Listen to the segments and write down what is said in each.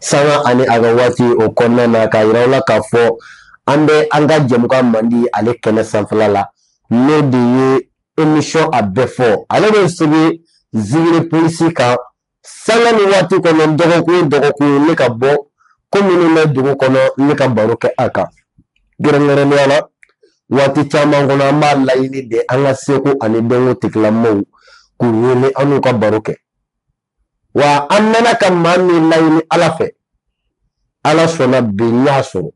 Sanga ani a ka waati o kɔnɔna na k'a yira aw la k'a fɔ an bɛ an ka jɛmukan mandi ale kɛnɛ sanfɛla la n'o de ye emisɔn a bɛɛ fɔ ale bɛ sigi Zigiri Plus kan sanga ni waati kɔnɔ dɔgɔkun dɔgɔkun ne ka bɔ ko minnu bɛ dugu kɔnɔ ne ka baro kɛ a kan kɛrɛnkɛrɛnnenya la waati caman kɔnɔ an b'a laɲini de an ka seko ani dɔnko tigilamɔgɔw k'u wele an n'u ka baro kɛ wa an mɛnna ka maa min laɲini ala fɛ ala sɔnna bi n y'a sɔrɔ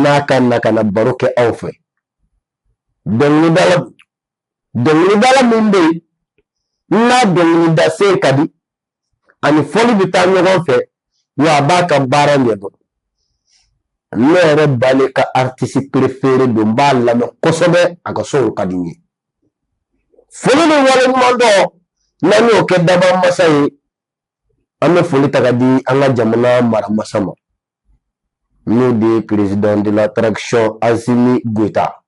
n'a ka na ka na baro kɛ aw fɛ dɔnkilidala dɔnkilidala min bɛ yen n'a dɔnkilida sen ka di ani fɔli bɛ taa ɲɔgɔn fɛ wa a b'a ka baara ɲɛdɔn ne yɛrɛ Bale ka artisi perefere don n b'a lamɛn kosɛbɛ a ka sɔn ka di n ye foli ni waleɲumandɔn n'an y'o kɛ dabaa masa ye an bɛ foli ta ka di an ka jamana maramasa ma n'o de ye président de la transition Assimi Goïta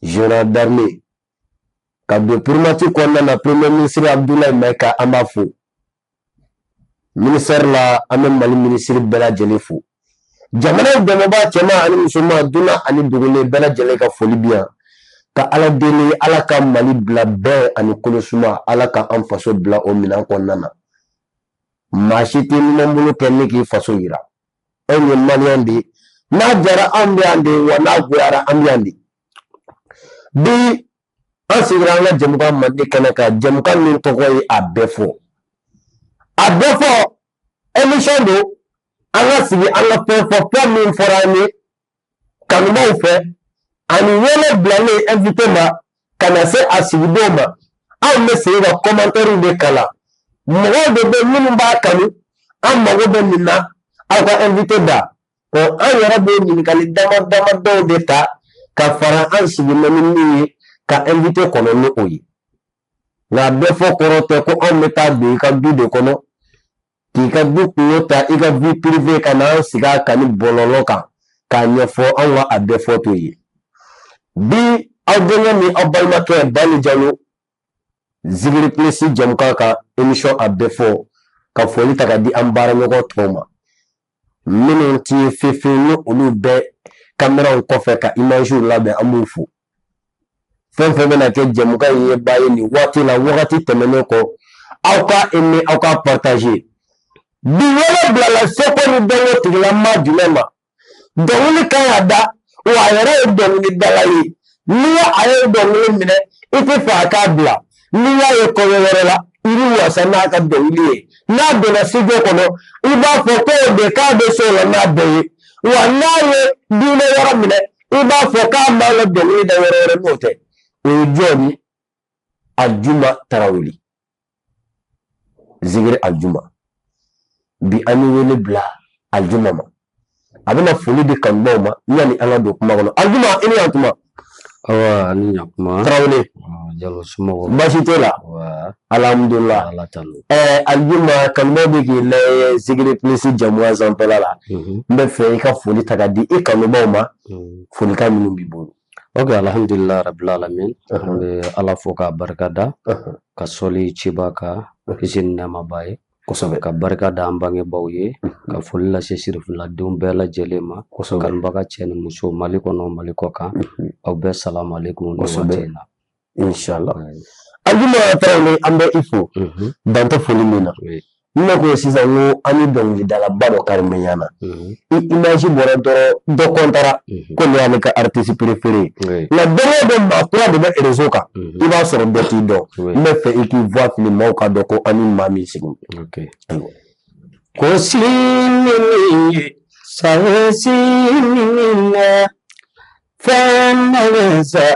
général d'armée ka don primature kɔnɔna na premier ministre Abdoulaye Maïga an b'a fo Ministɛri la an bɛ mali minisiri bɛɛ lajɛlen fo jamana dɛmɛbaa cɛman ani musoman dunan ani dugulen bɛɛ lajɛlen ka foli bi yan ka ala deli ala ka mali bila bɛn ani kolosuma ala ka an faso bila o minɛn kɔnɔna na maa si t'i numan bolo kɛ ni k'i faso yira an ye maliyɛn de n'a diyara an bɛ yan de wa n'a goyara an bɛ yan de bi an sigira an ka jɛmukan mandi kɛnɛ kan jɛmukan min tɔgɔ ye a bɛɛ fɔ a bɛɛ fɔ emisɔn don an ka sigi an ka fɛn fɔ fɛn min fɔra an ye kanubaw fɛ ani wele bilalen invité ma ka na se a sigidenw ma anw bɛ segin ka kɔmantɛriw de kalan mɔgɔw de bɛ minnu b'a kanu an mago bɛ nin na aw ka invité da Ɔ an yɛrɛ bɛ ɲininkali dama dama dɔw de ta ka fara an sigi na ni min ye ka invité kɔnɔ ni o ye nka a bɛɛ fɔ kɔrɔ tɛ ko anw bɛ taa don i ka du de kɔnɔ k'i ka du kunko ta i ka vie privée ka na an sigi a kan ni bɔlɔlɔ kan k'a ɲɛfɔ anw ka a bɛɛ fɔ t'o ye bi aw denkɛ ni aw balimakɛ Bale Jalo Zigiri Plus jɛmukan ka emisɔn a bɛɛ fɔ ka foli ta ka di an baaraɲɔgɔn tɔw ma minnu ti ye fefe ni olu bɛ kameraw kɔfɛ ka imaziw labɛn an b'u fo fɛn fɛn bɛna kɛ jɛmukan in yebaa ye nin waati la wagati tɛmɛnen kɔ aw ka eme aw ka partaze bi wele bilala seko ni dɔnko tigilamaa jumɛn ma dɔnkili kan ka da wa a yɛrɛ ye dɔnkilidala ye n'i ye a ye dɔnkili minɛ i tɛ fɛ a k'a bila n'i y'a ye kɔɲɔ yɔrɔ la i bɛ wasa n'a ka dɔnkili ye n'a donna studio kɔnɔ i b'a fɔ ko o de k'a bɛ se o la n'a bɛɛ ye wa n'a ye diinɛ yɔrɔ minɛ i b'a fɔ k'a man ka dɔnkili da yɔrɔ wɛrɛ n'o tɛ o ye jɔn ye Aljuma Tarawele zikiri aljuma bi an ye wele bila aljuma ma a bɛna foli di kanubaw ma yanni an ka don kuma kɔnɔ aljuma i ni yantuma awa ani ɲakuma tarawele jalo somɔgɔw baasi t'o la alhamdulila ɛɛ aljuma kanubaw bɛ k'i lajɛ zikiri plus jɛmukan sanfɛla la n bɛ fɛ i ka foli ta ka di i kanubaw ma folikan minnu b'i bolo Ok alhamdulila rabil alamin an bɛ Ala fo k'a barika da ka sɔli ciba kan kisi ni nɛma b'a ye kosɛbɛ ka barika da an bangebaaw ye ka foli lase sirifuladenw bɛɛ lajɛlen ma kosɛbɛ kanubaga cɛ ni muso Mali kɔnɔ Mali kɔkan aw bɛɛ salamuhalekum nin waati in na. incha allah aljuma tarawele an bɛ i fo mhm. dantɛ foli min na n bɛna ko sisan n ko an ni dɔnkilidalaba dɔ kari bɛ ɲana i image bɔra dɔrɔn dɔ kɔntara ko nin y'ale ka artiste préféré ye nka don o don maa kura de bɛ réseau kan i b'a sɔrɔ bɛɛ t'i dɔn n bɛ fɛ i k'i voix fili maaw ka dɔn ko an ni maa min sigi ko sini ye san sini na fɛn na sa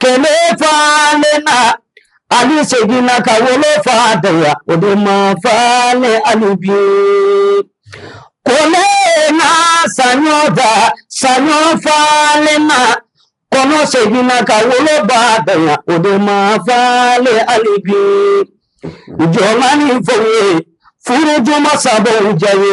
Kende falenna ani segin na ka wolofa dan yan o de ma falen hali bi ko ne na saɲɔ dan saɲɔ falenna kɔnɔ segin na ka woloba dan yan o de ma falen hali bi jɔnma ni fɛ ye furu juma sababu ja ye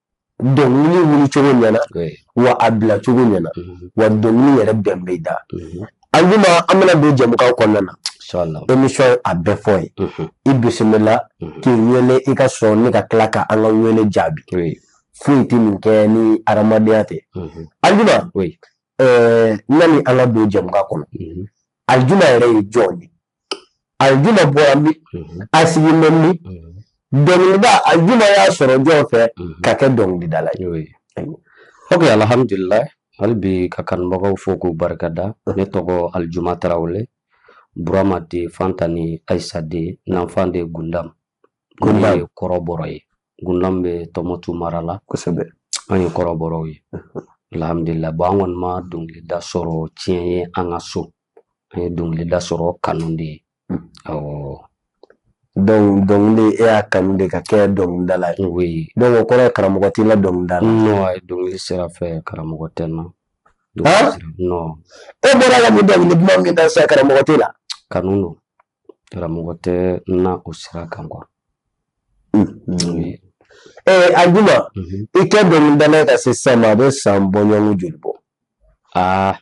dɔnkili wuli cogo ɲɛna wa a bila cogo ɲɛna wa dɔnkili yɛrɛ bɛn b'i da aljuma an bɛna don jɛmukan kɔnɔna na émission a bɛ fɔ i ye i bisimila k'i wele i ka sɔn ne ka tila ka an ka wele jaabi foyi tɛ min kɛ ni adamadenya tɛ aljuma yanni an ka don jɛmukan kɔnɔ aljuma yɛrɛ ye jɔn ye aljuma bɔra min a sigilen bɛ min dɔnkilida aljuma y'a sɔrɔ jɔn fɛ ka kɛ dɔnkilidala ye ok alhamdulillah hali bi ka kanubagaw fo k'u barika da ne tɔgɔ alijuma tarawele burama den fanta ni ayisa den nanfan den gundam gundam ye kɔrɔbɔrɔ ye gundam bɛ tumutu mara la kosɛbɛ an ye kɔrɔbɔrɔw ye alhamdulillah bɔn an kɔni ma dɔnkilida sɔrɔ ciyɛn ye an ka so An ye dɔnkilida sɔrɔ kanu de ye dɔnkili e y'a kanu de ka kɛ dɔnkilidala ye dɔnku kɔrɔ ye karamɔgɔ t'i la dɔnkilida dɔnkili sira fɛ karamɔgɔ tɛ n na e bɔra la dɔnkili duman min da sa karamɔgɔ t'i la kanu don karamɔgɔ tɛ n na o sira kan kuwa alijuma i ka dɔnkilida ka se san a bɛ san bɔɲɔgɔnɔn joli bɔ aa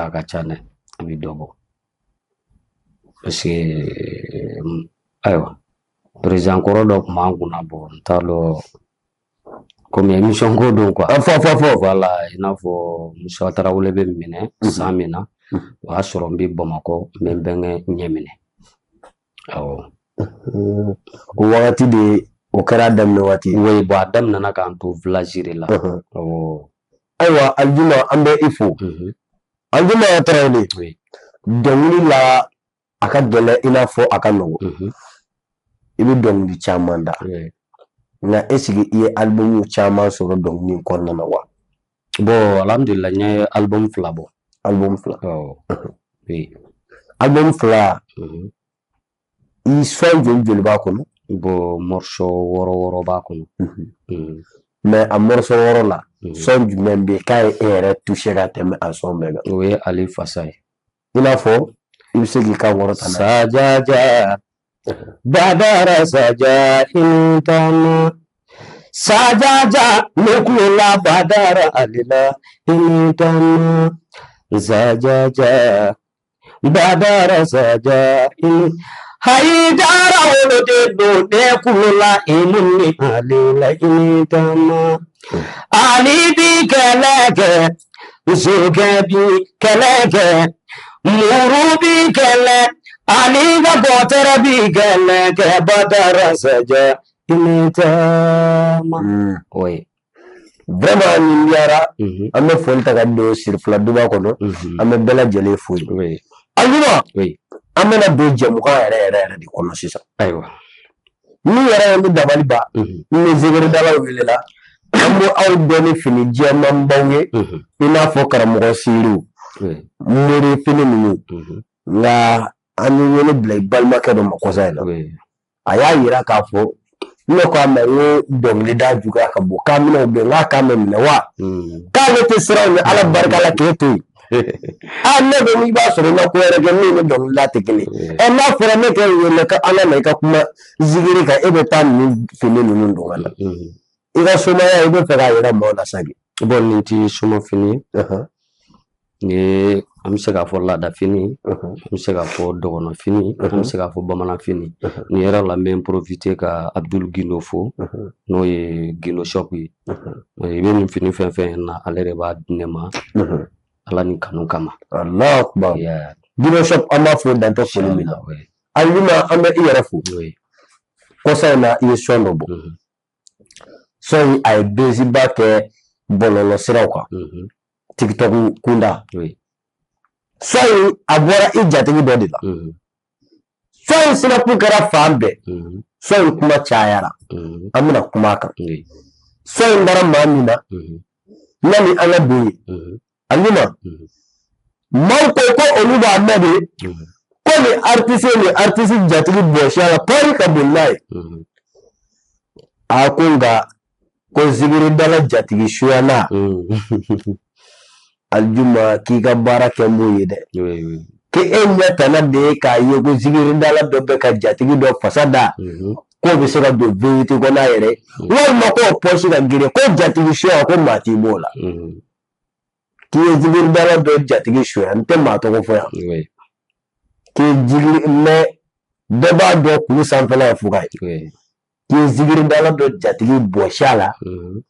A ka ca dɛ a bɛ dɔ bɔ parce que ayiwa peresidan kɔrɔ dɔ kuma n kun na bɔn n t'a dɔn kɔmi emisiyɔn ko don kuwa wala i n'a fɔ musa tarawele bɛ minɛ san min na o y'a sɔrɔ n bɛ bamakɔ n bɛ n bɛnkɛ ɲɛ minɛ awɔ wagati de o kɛra daminɛ waati bɔn a daminɛna ka n to vilazi la ayiwa alijuma an bɛ i fo alijuma tarawele dɔnkili la a ka gɛlɛn i n'a fɔ a ka nɔgɔ i bɛ dɔnkili caman da nka ɛsike i ye alibumu caman sɔrɔ dɔnkili kɔnɔna na wa bɔn alhamdulila n ye alibumu fila bɔ alibumu fila alibumu fila i sɔn joli joli b'a kɔnɔ bɔn mɔrisɔ wɔɔrɔ wɔɔrɔ b'a kɔnɔ mɛ a mɔrisɔ wɔɔrɔ la sɔn jumɛn bɛ ka e yɛrɛ touché ka tɛmɛ a sɔn bɛɛ kan o ye ali fasa ye i n'a fɔ i bɛ se k'i ka wɔɔrɔ ta sajaja badara saja i ni taama sajaja ne kulela badara ali la i ni taama sajaja Badara saja hayidara woloden don ne kulela imuni ali la i ni taama ali bɛ kɛlɛ kɛ sokɛ bɛ kɛlɛ kɛ muru bɛ kɛlɛ ali ka bɔta bɛ kɛlɛ kɛ badara saja i ni taama oui Vraiment nin diyara an bɛ foli ta ka don sirifila duba kɔnɔ an bɛ bɛɛ lajɛlen fo alijuma an bɛna don jɛmukan yɛrɛ de kɔnɔ sisan ayiwa n'u yɛrɛ ni dabaliba ni zikiridala welela an bɛ aw dɔn ni fini jɛmanbaw ye i n'a fɔ karamɔgɔ siriw mori fini ninnu nka an ye wele bila i balimakɛ dɔ ma kɔsa in na a y'a yira k'a fɔ ne ko a ma n ko dɔnkilida juguya ka bon k'a minɛ u bɛn k'a k'a mɛ minɛ wa hmm. k'ale tɛ siran ni ala barika la k'e to yen a ah, ne bɛ n'i b'a sɔrɔ i ka ko wɛrɛ kɛ min ni dɔnkilida tɛ kelen ye hmm. ɛ eh, n'a fɔra ne k'e wele ka a lamɛn ka kuma zikiri kan e bɛ taa nin fini ninnu don ka na hmm. i ka somaya i b'a fɛ k'a yira maaw la sa de bɔn nin tɛ somafini ye N ye an bɛ se k'a fɔ laadafini an bɛ se k'a fɔ dɔgɔnɔfini an bɛ se k'a fɔ bamananfini nin yɔrɔ la n bɛ n porofite ka Abuduli Gindo fo n'o ye Gindo shɔpu ye i bɛ nin fini fɛn fɛn ye n na ale de b'a di ne ma Ala ni kanu kama Alahu akibaru Gindo shɔpu an b'a fo dan tɛ foli min na Alijuma an bɛ i yɛrɛ fo kɔsa in na i ye sɔn dɔ bɔ. sɔn in a ye bɛziba kɛ bɔlɔlɔ siraw kan mhm. tiktok kunda sɔn in a bɔra i jatigi dɔ de la mhm. sɔn in sinakun kɛra fan bɛɛ mhm. sɔn in kuma cayara an bɛna kuma a kan sɔn in bɔra maa min na yanni an ka don yen Alijuma maaw ko ko olu b'a mɛn de ko ni aritisi ye aritisi jatigi bɔsi a la pari ka bon n'a ye a ko nka ko zigiridala jatigi suya na alijuma k'i ka baara kɛ n'o ye dɛ k'e ɲɛ tana de ye k'a ye ko zigiridala dɔ bɛ ka jatigi dɔ fasa da k'o bɛ se ka don vewiti kɔnɔ a yɛrɛ walima k'o pɔsi ka girin ko jatigi suya ko maa t'i b'o la k'i ye zigiridala dɔ jatigi suya n tɛ maa tɔgɔ fɔ yan k'i jigi mɛ bɛɛ b'a dɔn kulu sanfɛla ye fuga ye k'i ye zigiridala dɔ jatigi bɔsi a la mhm.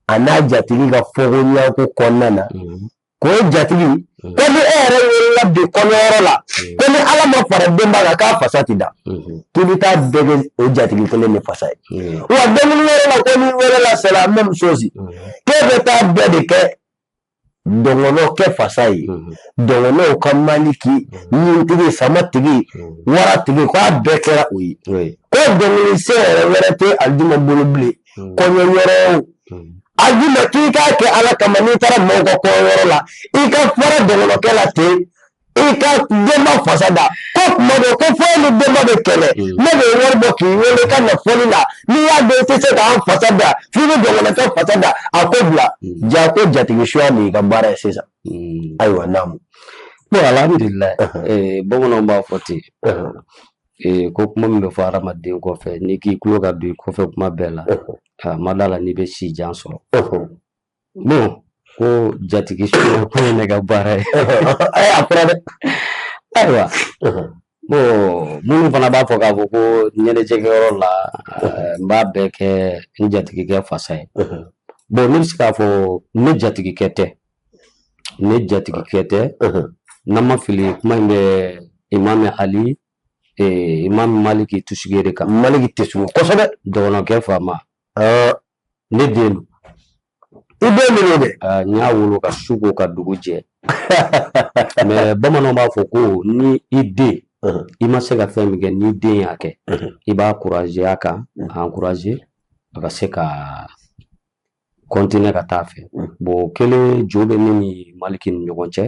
a n'a jatigi ka fɔɲɔgɔnkɔ kɔnɔna na mhm. k'o jatigi Unhun. Ko ni e yɛrɛ welela bi kɔɲɔyɔrɔ la, un, ko ni Ala ma fara denba kan k'a fasa tɛ da, unhun, k'i bɛ taa bɛɛ kɛ o jatigi kelen de fasa ye. un, Wa dɔnkili yɔrɔ la ko n'i welela c'est la même chose, un, k'e bɛ taa bɛɛ de kɛ dɔngɔnɔ kɛ fasa ye. unhun, Dɔngɔnɔw ka maliki, ɲintigi, samatigi, un, waratigi, k'a bɛɛ kɛra o ye. oui, Ko dɔnkili se yɛrɛ wɛrɛ tɛ Alijuma bolo bilen kɔɲɔ yɔrɔ Alijuma k'i k'a kɛ ala kama n'i taara maaw ka kɔɲɔ yɔrɔ la i ka fara dɔgɔnɔkɛ la ten i ka denba fasa da ko tuma dɔ ko fo ni denba bɛ kɛlɛ ne bɛ wari bɔ k'i wele ka na fɔli la n'i y'a dɔn i tɛ se k'an fasa da f'i bɛ dɔgɔnɔkɛ fasa da a ko bila ja ko jatigi suya de y'i ka baara ye sisan ayiwa naamu bon alhamdulilayi bamananw b'a fɔ ten Ee ko kuma min bɛ fɔ hadamaden kɔfɛ n'i k'i tulo ka don i kɔfɛ kuma bɛɛ la n ma d'a la n'i bɛ si jan sɔrɔ bon ko jatigi suya ko ye ne ka baara ye a fɔra dɛ ayiwa bon minnu fana b'a fɔ k'a fɔ ko ɲɛnajɛkɛyɔrɔ la n b'a bɛɛ kɛ n jatigikɛ fasa ye bon ne bɛ se k'a fɔ ne jatigikɛ tɛ ne jatigikɛ tɛ n'an ma fili kuma in bɛ imami ali imami maliki tusigi de kan maliki tɛ sun kosɛbɛ dɔgɔninkɛ faama ne den don i bɛ minnu bɛ n y'a wolo ka su ko ka dugu jɛ mais bamananw b'a fɔ ko ni i den i ma se ka fɛn min kɛ ni den y'a kɛ i b'a encourager a kan encourager a ka se ka continuer ka taa fɛ bon kelen jo bɛ ne ni maliki ni ɲɔgɔn cɛ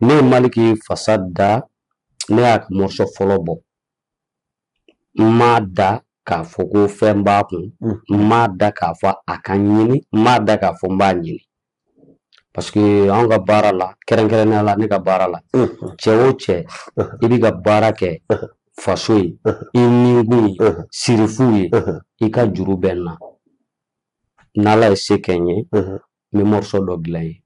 ne ye maliki fasa da ne y'a ka morceau fɔlɔ bɔ n m'a da k'a fɔ ko fɛn b'a kun n m'a da k'a fɔ a ka ɲini n m'a da k'a fɔ n b'a ɲini Parce que an ka baara la kɛrɛnkɛrɛnnenya la ne ka baara la cɛ o cɛ i bɛ ka baara kɛ faso ye i nikun ye sirifu ye i ka juru bɛ n na n'ala ye se kɛ n ye n bɛ morceau dɔ dilan i ye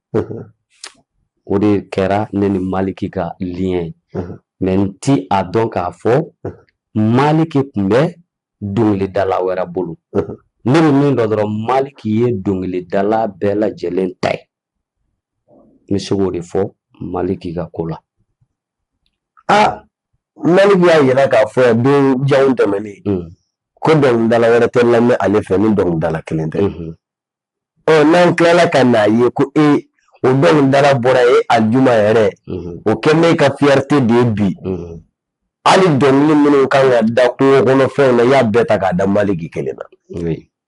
o de kɛra ne ni maliki ka lien ye mais n tɛ a dɔn k'a fɔ maliki tun bɛ dɔnkilidala wɛrɛ bolo ne bɛ min dɔn dɔrɔn maliki ye dɔnkilidala bɛɛ lajɛlen ta ye n bɛ se k'o de fɔ maliki ka ko la aa maliki y'a yira k'a fɔ yan don janw tɛmɛnen ko dɔnkilidala wɛrɛ tɛ lamɛn ale fɛ ni dɔnkilidala kelen tɛ ɔ n'an tilala ka n'a ye ko e o dɔnkilidala bɔra ye alijuma yɛrɛ o kɛ ne ka fierté de ye bi hali dɔnkili minnu kan ka da kungo kɔnɔ fɛnw na i y'a bɛɛ ta k'a da maliki kelen na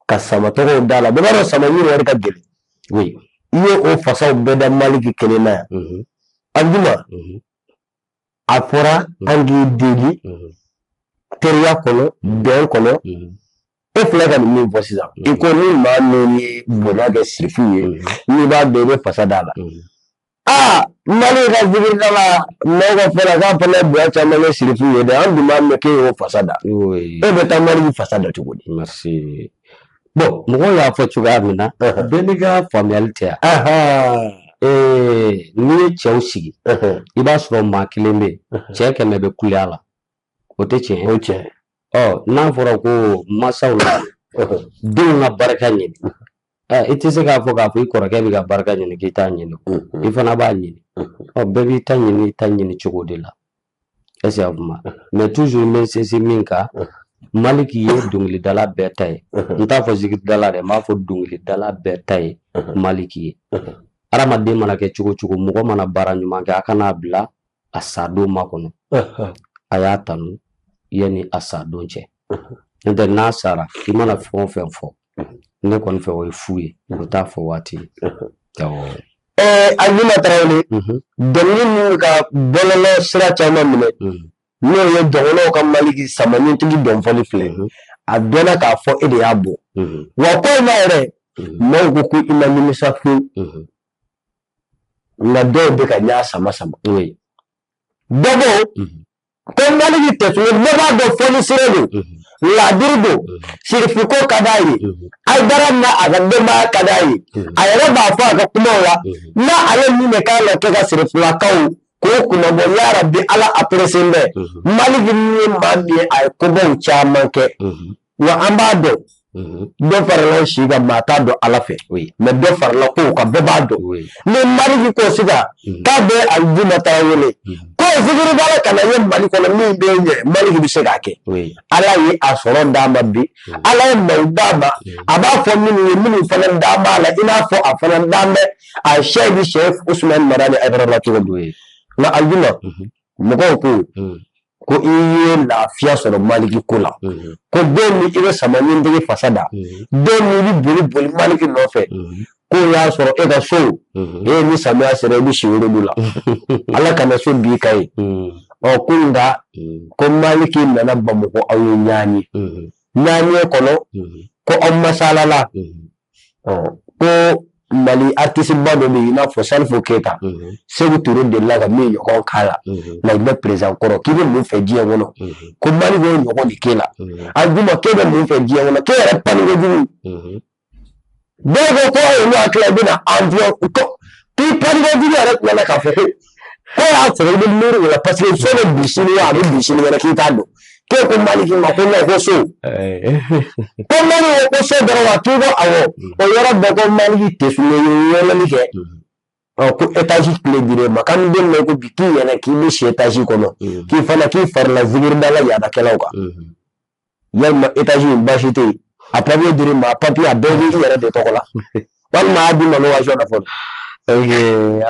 ka sama tɔgɔw d'a la bɛɛ b'a dɔn sama min yɛrɛ ka gɛlɛn i ye o fasaw bɛɛ da maliki kelen na yan alijuma a fɔra an k'i deli teriya kɔnɔ bɛn kɔnɔ e filɛ ka nin min fɔ sisan i ko ni maa min ye bonya kɛ sirifu ye n'i b'a dɔn i bɛ fasa d'a la aa mali ka zikiridala maaw ka fɔ la k'a fana bonya caman kɛ sirifu ye dɛ an dun m'a mɛn k'e y'o fasa da e bɛ taa mali fasa da cogo di Bon mɔgɔw y'a fɔ cogoya min na bɛɛ n'i ka faamuyali tɛ yan n'i ye cɛw sigi i b'a sɔrɔ maa kelen bɛ cɛ kɛmɛ bɛ kule a la o tɛ tiɲɛ o tiɲɛ n'a fɔra ko masaw la denw ka barika ɲini i tɛ se k'a fɔ k'a fɔ i kɔrɔkɛ bɛ ka barika ɲini k'i t'a ɲini i fana b'a ɲini bɛɛ b'i ta ɲini i ta ɲini cogo de la est-ce i y'a faamu mais toujours n bɛ sinsin min kan maliki ye dɔnkilidala bɛɛ ta ye n t'a fɔ zikiridala dɛ n b'a fɔ dɔnkilidala bɛɛ ta ye maliki ye adamaden mana kɛ cogo cogo mɔgɔ mana baara ɲuman kɛ a kana a bila a sa don makɔnɔ a y'a tanu yanni a sa don cɛ n'o tɛ n'a sara i mana fɛn o fɛn fɔ ne kɔni fɛ o ye fu ye u t'a fɔ waati ajuma tarawele dɔnkili minnu ka bɔlɔlɔ sira caman minɛ n'o ye dɔnkiliw ka maliki sama ɲintigi dɔnfɔli filɛ a dɔnna k'a fɔ e de y'a bɔ wa ko ma yɛrɛ maaw ko ko i ma nimisa fu nka dɔw bɛ ka ɲa sama sama dɔbɔ Ko maliki tesuge ne b'a dɔn fonisire don ladiri don serifu ko ka d'a ye ayidara n'a ka denbaya ka d'a ye a yɛrɛ b'a fɔ a ka kumaw la n'ale min bɛ k'a la kɛ ka serifulakaw ko kunnabɔ yarabi ala a pursen bɛ maliki min ye maa min ye a ye kobaw caman kɛ Wa an b'a dɔn dɔ farala si kan maa t'a dɔn ala fɛ mɛ dɔ farala kow kan bɛɛ b'a dɔn ni maliki ko sisan k'a bɛ ajuma tarawele ko b'a ka ye mali kɔnɔ min bɛ ɲɛ maliki bɛ se k'a kɛ ala ye a sɔrɔ d'a ma bi ala ye maaw d'a ma a b'a fɔ minnu ye minnu fana d'a ma la i n'a fɔ a fana d'a mɛn a sɛki usumani madani ayidara cogo dɔ ye nka ajuma mɔgɔw ko ko i ye lafiya sɔrɔ maliki ko la ko don min i bɛ sama ɲintigi fasa da don min i bɛ boli boli maliki nɔfɛ ko y'a sɔrɔ e ka so in ni samiya sera i bɛ si wolodu la ala kana so bin i kan yen ɔ ko nka ko maliki nana bamakɔ aw ye ɲaani ɲaani kɔnɔ ko aw masalala ɔ ko mali artisiba dɔ bɛ yen i n'a fɔ salifu keyita seku ture delila ka min ɲɔgɔn k'a la lagine perezidan kɔrɔ k'i bɛ mun fɛ diɲɛ kɔnɔ ko maliki y'o ɲɔgɔn de k'e la ajuma k'e bɛ mun fɛ diɲɛ kɔnɔ k'e yɛrɛ pani kojugu dɔw ko ko ayi olu hakili i bɛna avion ko k'i pani kojugu yɛrɛ tilala k'a fɔ ko e y'a sɔrɔ i bɛ miiri o la paseke so bɛ bin sini wa a bɛ bin sini wɛrɛ k'i t'a dɔn k'e ko maliki ma ko ne ko so ko maliki ko so dɔrɔn wa k'i ko awɔ o yɔrɔ bɛɛ ko maliki tesuge ye yɛlɛli kɛ ko etazi kile dir'e ma k'an b'a mɛn ko bi k'i yɛrɛ k'i bɛ si etazi kɔnɔ k'i fana k'i farala zikiridala yaadakɛlaw kan yalima etazi in baasi tɛ yen a papiye dir'i ma a papiye a bɛɛ bɛ i yɛrɛ de tɔgɔ la walima a y'a d'i ma location na fɔlɔ. ok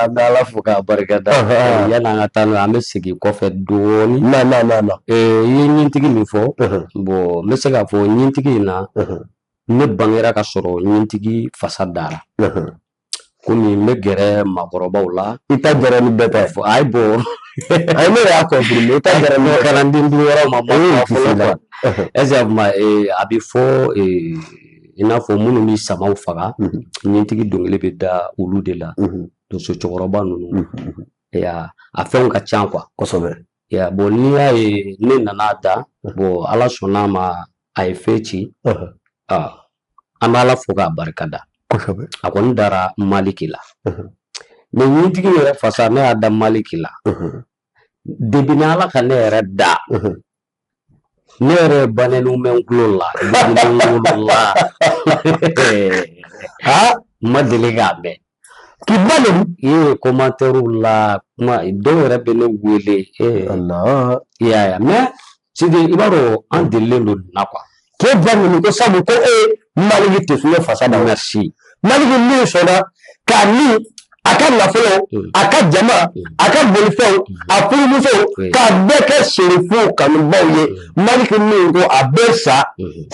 an bɛ ala fo k'a barika da yan'an ka taa n'o ye an bɛ segin kɔfɛ dɔɔnin. na na na na. i ye ɲintigi min fɔ. bɔn n bɛ se k'a fɔ ɲintigi in na. ne bangera ka sɔrɔ ɲintigi fasa dara. komi n bɛ gɛrɛ maakɔrɔbaw la i ta gɛrɛ ni bɛɛ tɛ fɔ ayi bon ne y'a confirmer i ta gɛrɛ ni kalanden yɔrɔ ma bɔ fɔlɔ quoi est ce que a kuma a bɛ fɔ i n'a fɔ minnu bɛ samaw faga ɲintigi dɔnkili bɛ da olu de la donso cɛkɔrɔba ninnu a fɛnw ka ca quoi kosɛbɛ Ya bɔn n'i y'a ye ne nana da bɔn ala sɔnn'a ma a ye fɛn ci an b'ala fo k'a barika da a kɔni dara maliki la mɛ ɲintigi yɛrɛ fasa ne y'a da maliki la depuis n'ala ka ne yɛrɛ da ne yɛrɛ banɛni bɛ n tulo la la a ma deli k'a mɛn k'i ba nɛni kɔmatɛriw la kuma dɔw yɛrɛ bɛ ne wele i y'a ye mɛ sidi i b'a dɔn an delilen don nin na kuwa k'e ba nɛni ko sabu ko e maliki tɛ fiɲɛ fasa da merci maliki min sɔnna k'a ni a ka nafolo mm. a ka jama mm. a ka bolifɛnw a furumusow mm. k'a bɛɛ kɛ serifu kanubaw ye maliki min ko a bɛ sa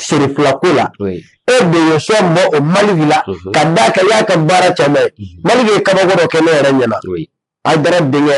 serifulako la e de ye sɔn bɔ o maliki la mm-hmm. ka d'a kan i y'a ka baara caman ye mm-hmm. maliki ye kabako dɔ kɛ ne yɛrɛ ɲɛna ayidara denkɛ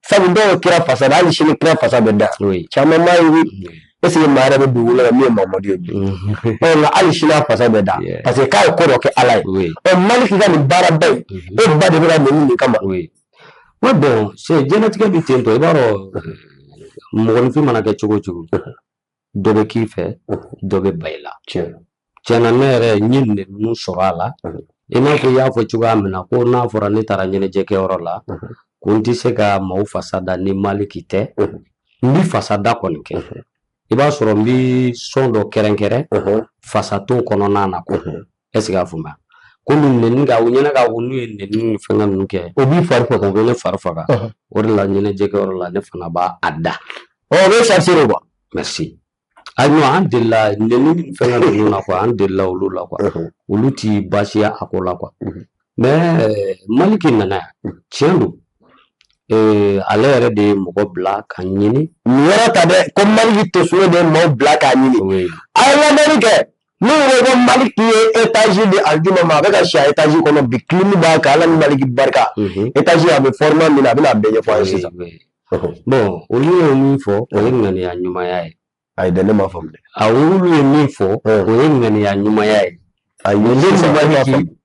sabu dɔw ye kira fasa da hali sini kira fasa bɛ da caman m'a ye est-ce que maa yɛrɛ bɛ dugu la min ye mamadu ye bi nka hali sini a fasa bɛ da parce que k'a ye ko dɔ kɛ ala ye ɔ maliki ka nin baaraba in e ba de bɛ ka nɛni nin kama wa bɔn c'est diɲɛlatigɛ bɛ ten tɔ i b'a dɔn mɔgɔninfin mana kɛ cogo o cogo dɔ bɛ k'i fɛ dɔ bɛ ban i la tiɲɛna ne yɛrɛ n ye ninnu sɔrɔ a la i n'a fɔ i y'a fɔ cogoya min na ko n'a fɔra ne taara ɲɛnajɛkɛyɔrɔ la ko n tɛ se ka maaw fasa da ni maliki tɛ n bɛ fasa da kɔni kɛ i b'a sɔrɔ n bɛ sɔn dɔ kɛrɛnkɛrɛn fasa t'o kɔnɔna na est-ce qu'a faamuya ko min nɛni ka u ɲɛna ka ko n'u ye nɛni ni fɛnkɛ ninnu kɛ o b'i fari faga o bɛ ne fari faga o de la ɲɛnajɛkɛyɔrɔ la ne fana b'a a da ɔ o bɛ charger de kuwa merci ayiwa an delila nɛni ni fɛnkɛ ninnu na kuwa an delila olu la kuwa olu ti baasiya a ko la kuwa mɛ maliki nana yan tiɲɛ don Eh, ale yɛrɛ de ye mɔgɔ bila k'a ɲini nin yɔrɔ ta dɛ ko maliki tosolo de ye mɔgɔ bila k'a ɲini a ye lamɛnni kɛ N'u ko maliki ye étage di aljuma ma a bɛ ka si a étage kɔnɔ bi kilimu b'a kan ala ni maliki barika étage a bɛ format min na a bɛn'a bɛɛ ɲɛfɔ sisan bɔn olu ye min fɔ o ye ŋaniya ɲumanya ye ayi ne m'a faamu olu ye min fɔ o ye ŋaniya ɲumanya ye ayi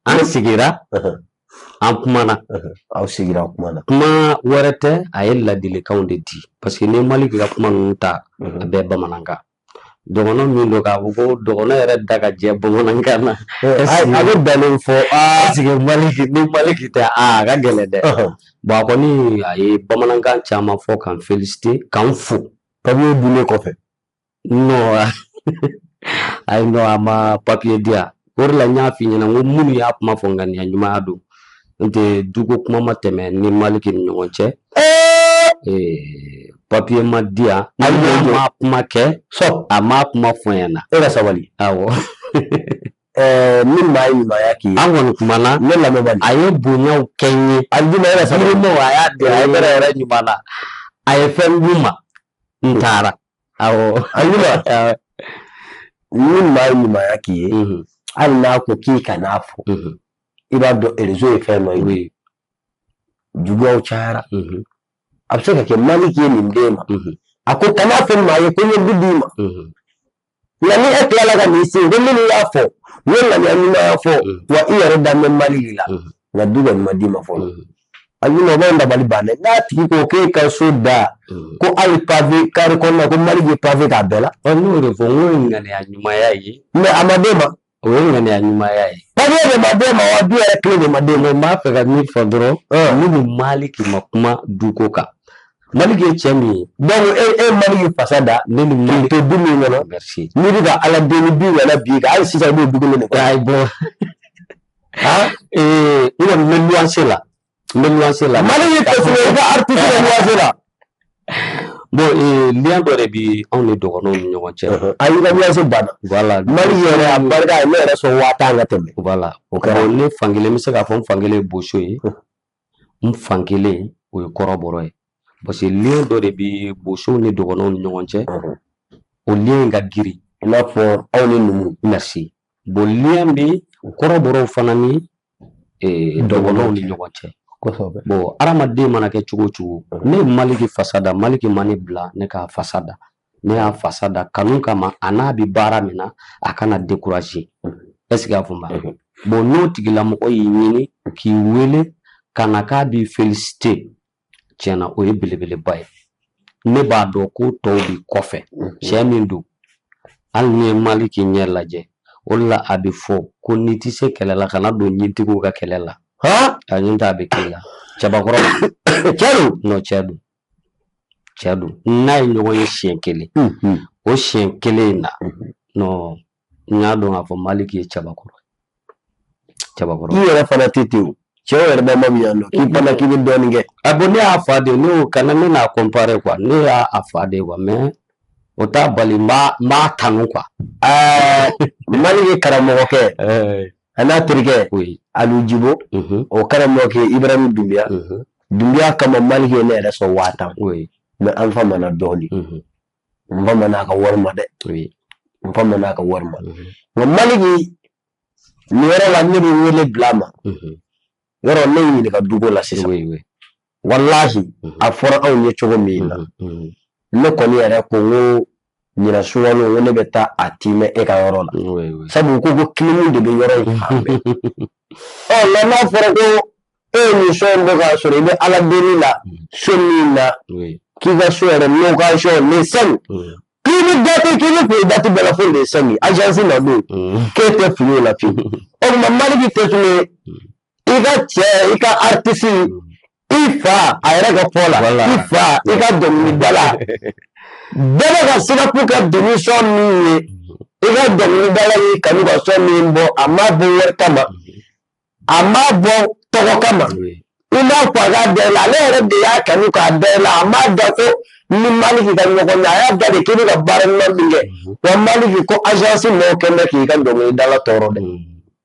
an sigira an kumana aw sigira kumana kuma wɛrɛ tɛ a ye ladilikanw de di parce que ni maliki ka kuma ninnu ta a bɛɛ bamanankan dɔgɔnɔ min don k'a fɔ ko dɔgɔnɔ yɛrɛ da ka jɛ bamanankan na a bɛ bɛnnen fɔ parce que maliki ni maliki tɛ a ka gɛlɛn dɛ bɔn a kɔni a ye bamanankan caman fɔ k'an felisite k'an fo papiye dilen kɔfɛ nɔ ayi nɔ a ma papiye di yan O de la n y'a f'i ɲɛna n ko minnu y'a kuma fɔ ŋaniya ɲumanya don nɔntɛ duko kuma ma tɛmɛ ni maliki ni ɲɔgɔn cɛ papiye ma di yan a ma kuma kɛ a ma kuma fɔ n ɲɛna e ka sabali awɔ ni maa ye ɲumanya k'i ye an kɔni kumana ne lamɛnbali a ye bonyaw kɛ n ye aljuma e ka sabali a y'a di a ye yɛrɛ ɲuman na a ye fɛn d'u ma n taara awɔ aljuma ni maa ye ɲumanya k'i ye hali n'a ko k'i kan'a fɔ i b'a dɔn erezo ye fɛn dɔ ye juguyaw cayara a bɛ se ka kɛ maliki ye nin d'e ma a ko kan'a fɔ maa ye ko n ye du d'i ma nka ni e tilala ka n'i sigi ko minnu y'a fɔ u ye ŋaniya ɲumanya fɔ wa i yɛrɛ dan bɛ maliki la nka du kɔni ma d'i ma fɔlɔ aljuma o bɛ dabali banna n'a tigi ko k'e ka so da mm. ko hali pave kare kɔnɔna ko maliki ye pave k'a bɛɛ la n y'o de fɔ n k'o ye ŋaniya ɲumanya ye mɛ a ma d'e ma o ye ŋaniya ɲumanya ye papiye de ma d'e ma wa du yɛrɛ kile de ma d'e ma n b'a fɛ ka min fɔ dɔrɔn ne ni maliki ma kuma duko kan maliki ye cɛ min ye donc e ye maliki fasa da ne ni maliki to du min kɔnɔ n'i bɛ ka ala deli du wɛrɛ bi ka hali sisan i b'o du kelen de kɔnɔ ayi bon eh ina n bɛ luwanse la n bɛ luwanse la maliki tɛ sɔrɔ i ka artiste bɛ luwanse la bon eh lien dɔ de bi anw ni dɔgɔnɔw ni ɲɔgɔn cɛ a y'i ka luwanse banna voilà maliki yɛrɛ a barika ye ne yɛrɛ sɔn waa tan ka tɛmɛ voilà o kɛra ne fankelen bɛ se k'a fɔ n fankelen ye boso ye n fan kelen o ye kɔrɔbɔrɔ ye parce que lien dɔ de bɛ bosow ni dɔgɔnɔw ni ɲɔgɔn cɛ o lien in ka girin i n'a fɔ aw ni numu merci bon lien bɛ kɔrɔbɔrɔw fana ni dɔgɔnɔw ni ɲɔgɔn cɛ kosɛbɛ bon hadamaden mana kɛ cogo o cogo ne ye Maliki fasa da Maliki ma ne bila ne k'a fasa da ne y'a fasa da kanu kama a n'a bɛ baara min na a kana dekuraze ɛseke y'a faamuya mhm. bɔn n'o tigilamɔgɔ y'i ɲini k'i wele ka na k'a b'i felisite tiɲɛna o ye belebeleba ye ne b'a dɔn ko tɔw bi kɔfɛ mhm. cɛ min don hali n'i ye maliki ɲɛ lajɛ o de la a bɛ fɔ ko n'i tɛ se kɛlɛ la kana don ɲintigiw ka kɛlɛ la a ɲin t'a bɛ k'i la cɛbakɔrɔ cɛ don nɔn cɛ don cɛ don n n'a ye ɲɔgɔn ye siɲɛ kelen o siɲɛ kelen in na n y'a dɔn k'a fɔ maliki ye cɛbakɔrɔ cɛbakɔrɔ i yɛrɛ fana tɛ ten o cɛ yɛrɛ bɛ ma min yan nɔ k'i fana k'i bɛ dɔɔnin kɛ a bɔn ne y'a fa de ne y'o kana ne n'a kɔnpare kuwa ne y'a a fa de kuwa mɛ o t'a bali n b'a tanu kuwa ɛɛ maliki karamɔgɔkɛ a n'a terikɛ alu jibo o karamɔgɔ kɛ ibrahimu dunbiya dunbiya kama maliki ye ne yɛrɛ sɔn waa tan mais an famana dɔɔnin n famana a ka wari ma dɛ n famana a ka wari ma nka maliki nin yɔrɔ la ne bɛ wele bila a ma yɔrɔ ne y'i ɲininka duko la sisan walaahi a fɔra anw ye cogo min na ne kɔni yɛrɛ ko n ko ɲinan sunkalo n ko ne bɛ taa a tiimɛ e ka yɔrɔ la sabu ko ko kilimu de bɛ yɔrɔ in fan bɛɛ ɔ nka n'a fɔra ko e ye nin son in bɔ k'a sɔrɔ i bɛ ala deli la so min na k'i ka so yɛrɛ location les cinq k'i bɛ date k'i bɛ fili date bɛɛ la fo les cinq agence na don k'e tɛ fili o la fiyewu o tuma maliki tɛ tun ye i ka cɛ i ka artiste mm. i fa a yɛrɛ ka fɔ la i fa i ka dɔnkilidala bɛɛ bɛ ka sirifu ka dernier son min ye i ka dɔnkilidala y'i kanu ka son min bɔ a m'a bɔ wari kama a m'a bɔ tɔgɔ kama i m'a fɔ a ka da i la ale yɛrɛ de y'a kanu k'a da i la a m'a da ko a ni maliki ka ɲɔgɔn ye a y'a da de k'i bɛ ka baara ɲuman min kɛ wa maliki ko agence mɔgɔw kɛ bɛ k'i ka dɔnkilidala tɔɔrɔ dɛ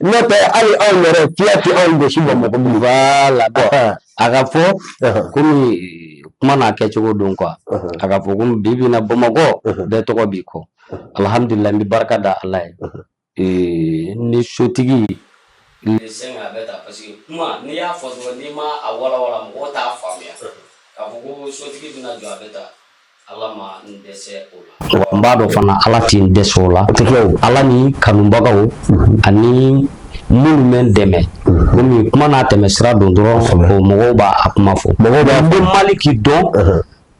n'o tɛ hali anw yɛrɛ fiya tɛ anw gosi bamakɔ bilen voilà bon a ka fɔ komi kuma n'a kɛcogo don quoi a ka fɔ komi bi bi na bamakɔ bɛɛ tɔgɔ b'i kɔ alihamdulilayi n bɛ barika da ala ye eh, ni sotigi les cinq a bɛ ta parce que kuma n'i y'a fɔ dɔrɔn n'i ma a walawala mɔgɔw t'a faamuya k'a fɔ ko sotigi bɛna jɔ a bɛ ta N b'a dɔn fana ala tɛ n dɛsɛ o la ala ni kanubagaw ani minnu bɛ n dɛmɛ komi kuma n'a tɛmɛ sira don dɔrɔn mɔgɔw b'a a kuma fɔ mɔgɔw b'a n bɛ maliki dɔn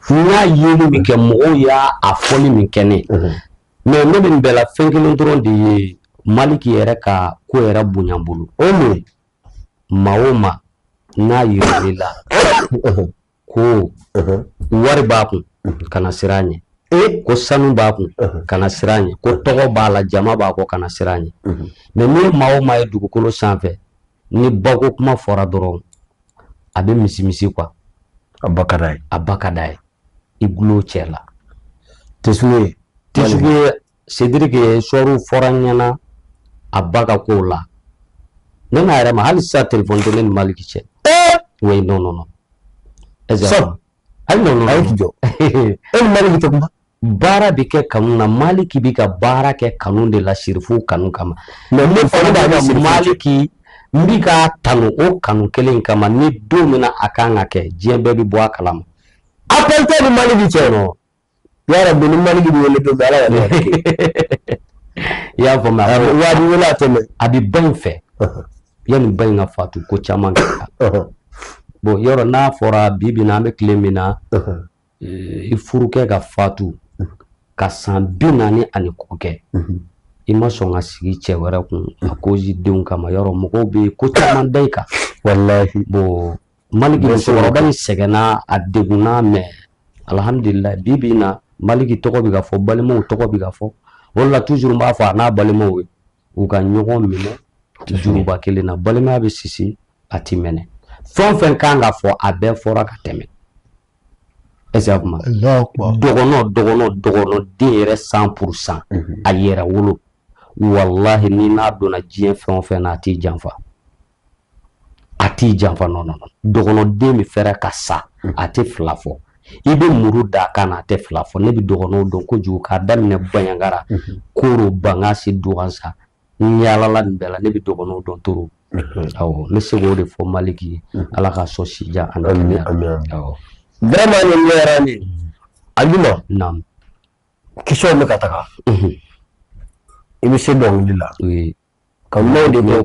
n y'a yeli min kɛ mɔgɔw y'a a fɔli min kɛ ne mais ne bɛ nin bɛɛ la fɛn kelen dɔrɔn de ye maliki yɛrɛ ka ko yɛrɛ bonya bolo o maa o maa n'a yira i la ko wari b'a kun kana siran a ɲɛ e ko sanu b'a kun kana siran a ɲɛ ko tɔgɔ b'a la jama b'a kɔ kana siran a ɲɛ mais n'i ye maa o maa ye dugukolo sanfɛ ni bako kuma fɔra dɔrɔn a bɛ misimisi quoi a ba ka d'a ye a ba ka d'a ye i gulo cɛ la tɛ ye tɛ ye Sediriki ye sabu a fɔra n ɲɛna a ba ka kow la ne n'a yɛrɛ ma hali sisan telefɔni tɛ ne ni Maliki cɛ oui non non non sɔrɔ hali non non ayi k'i jɔ e ni Maliki tɛ kuma baara bɛ kɛ kanu na Maliki bɛ ka baara kɛ kanu de la sirifu kanu kama mais ne fana b'a dɔn Maliki n bɛ k'a tanu o kanu kelen kama ni don min na a kan ka kɛ diɲɛ bɛɛ bɛ bɔ a kalama appel tɛ n ni Maliki cɛ yɔrɔ bi ni maliki bɛ wele don ala yɛrɛ i y'a faamu waati wele a tɛmɛ a bɛ ba in fɛ yanni ba in ka fatu ko caman kɛra bɔn yɔrɔ n'a fɔra bi bi in na an bɛ tile min na eh, i furukɛ ka fatu ka san bi naani ani kɔ kɛ i ma sɔn ka sigi cɛ wɛrɛ kun a kozi denw kama yɔrɔ mɔgɔw bɛ ko caman da i kan walahi bɔn maliki musokɔrɔba in sɛgɛnna a degunna mɛ alhamdulila bi bi in na maliki tɔgɔ bɛ ka fɔ balimaw tɔgɔ bɛ ka fɔ o la toujours n b'a fɔ a n'a balimaw ye u ka ɲɔgɔn minɛ juruba kelen na balimaya bɛ sisi a ti mɛnɛ fɛn o fɛn ka kan ka fɔ a bɛɛ fɔra ka tɛmɛ ɛsɛ kuma dɔgɔnɔ dɔgɔnɔ dɔgɔnɔ den yɛrɛ cent pour cent mhm. a yɛrɛ wolo walahi ni n'a donna diɲɛ fɛn o fɛn na a t'i janfa a t'i janfa non non dɔgɔnɔden préfère ka sa a tɛ fila fɔ i bɛ muru da a kan na a tɛ fila fɔ ne bɛ dɔgɔnɔw dɔn kojugu k'a daminɛ banjagara koro bankasi duwansa n yaalala nin bɛɛ la ne bɛ dɔgɔnɔw dɔn toro awɔ n bɛ se k'o de fɔ maliki ye ala k'a sɔn si jan ani kɛnɛya awɔ vraiment nin ɲɛra ne ajuma naamu question bɛ ka taga i bɛ se dɔnkili la kanubaw de ko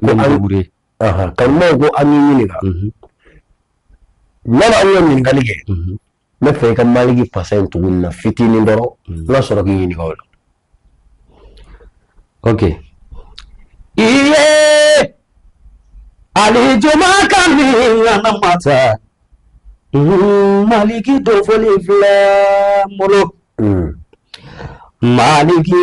kanubaw ko an k'i ɲininka nana an ye ɲininkali kɛ n b'a fɛ i ka maliki fasa in tugu na fitinin dɔrɔn n ka sɔrɔ k'i ɲininka o la ok iye alijuma ka min ŋana mata maliki dofoli filɛ n bolo maliki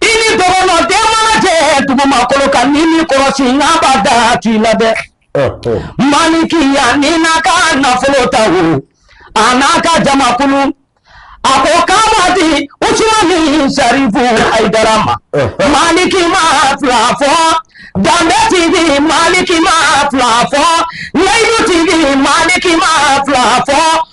i ni dɔgɔnɔ den mana jɛ dugumakolo kan n'i m'i kɔlɔsi n'a b'a da k'i la dɛ maliki y'a ni n'a ka nafolo ta o a n'a ka jamakulu a ko k'a b'a di Usumani Sarifu Ayidara ma maliki ma fila fɔ danbe tigi maliki ma fila fɔ layidu tigi maliki ma fila fɔ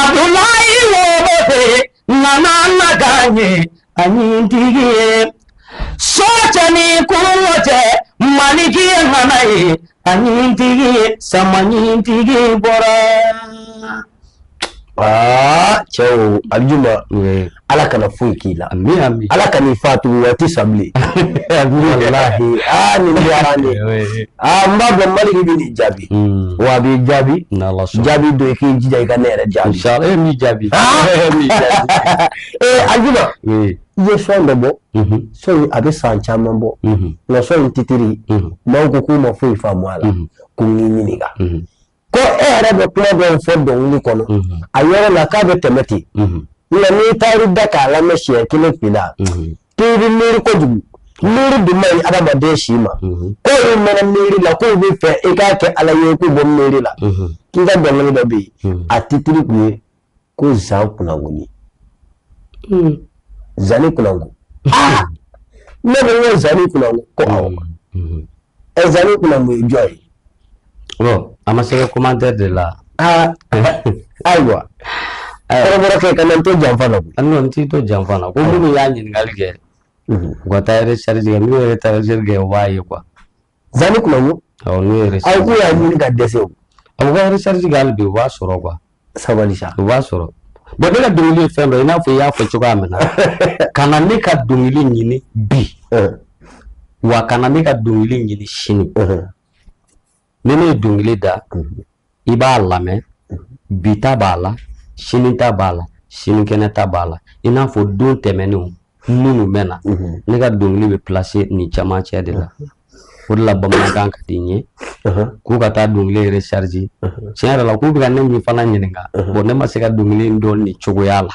abdulayi woloden ŋana na kan ye a ɲintigi ye so cɛ ni kungo cɛ maliki ye ŋana ye a ɲintigi ye sama ɲintigi bɔra aa cɛw aljuma ala kana foyi k'i la ala kan'i fatu waati san bilen n b'a dɔn maliki bɛ nin jaabi hmm. wa a b'i jaabi jaabi don i k'i jija i ka ne yɛrɛ jaabi n b'i jaabi ah! e eh, ajuma i ye sɔni dɔ bɔ mhm. sɔni a bɛ san caman bɔ mhm. nka sɔni titiri mhm. maaw ko k'u ma foyi faamu a la ko n k'i ɲininka ko e yɛrɛ bɛ kuma dɔw fɔ dɔnkili kɔnɔ a yɔrɔ la k'a bɛ tɛmɛ ten nka n'i taar'i da k'a lamɛn siɲɛ kelen fila k'i bɛ miiri kojugu miiri dun man ɲi adamaden si ma ko i mɛnna miiri la k'u b'a fɛ i k'a kɛ ala ye k'u bɔ miiri la k'i ka dɔnkili dɔ bɛ yen a titiri kun ye ko zan kunango zani kunango ne bɛ ye zani kunango ko ɛ zani kunango ye jɔn ye a ma se commentaire de la aa ayiwa kɔrɔkɛ kana n to janfa la an t'i to janfa la ko minnu y'a ɲininkali kɛ u ka taa recherche kɛ n'u ye recherche kɛ u b'a ye kuwa Zani kunango aw ko y'a ɲini ka dɛsɛ u ka recherche k'a la bi u b'a sɔrɔ kuwa sabali u b'a sɔrɔ bon ne ka dɔnkili ye fɛn dɔ i n'a fɔ i y'a fɔ cogoya min na ka na ne ka dɔnkili ɲini bi wa kana ne ka dɔnkili ɲini sini ni ne ye dɔnkili da i b'a lamɛn bi ta b'a la sini ta b'a la sinikɛnɛ ta b'a la i n'a fɔ don tɛmɛnenw minnu bɛ na mhm. ne ka dɔnkili bɛ plase nin caman cɛ de la mhm. o de la bamanankan ka di n ye mhm. k'u ka taa dɔnkili rechercher tiɲɛ yɛrɛ la k'u bɛ ka ne min fana ɲininka bon ne ma se ka dɔnkili dɔn nin cogoya la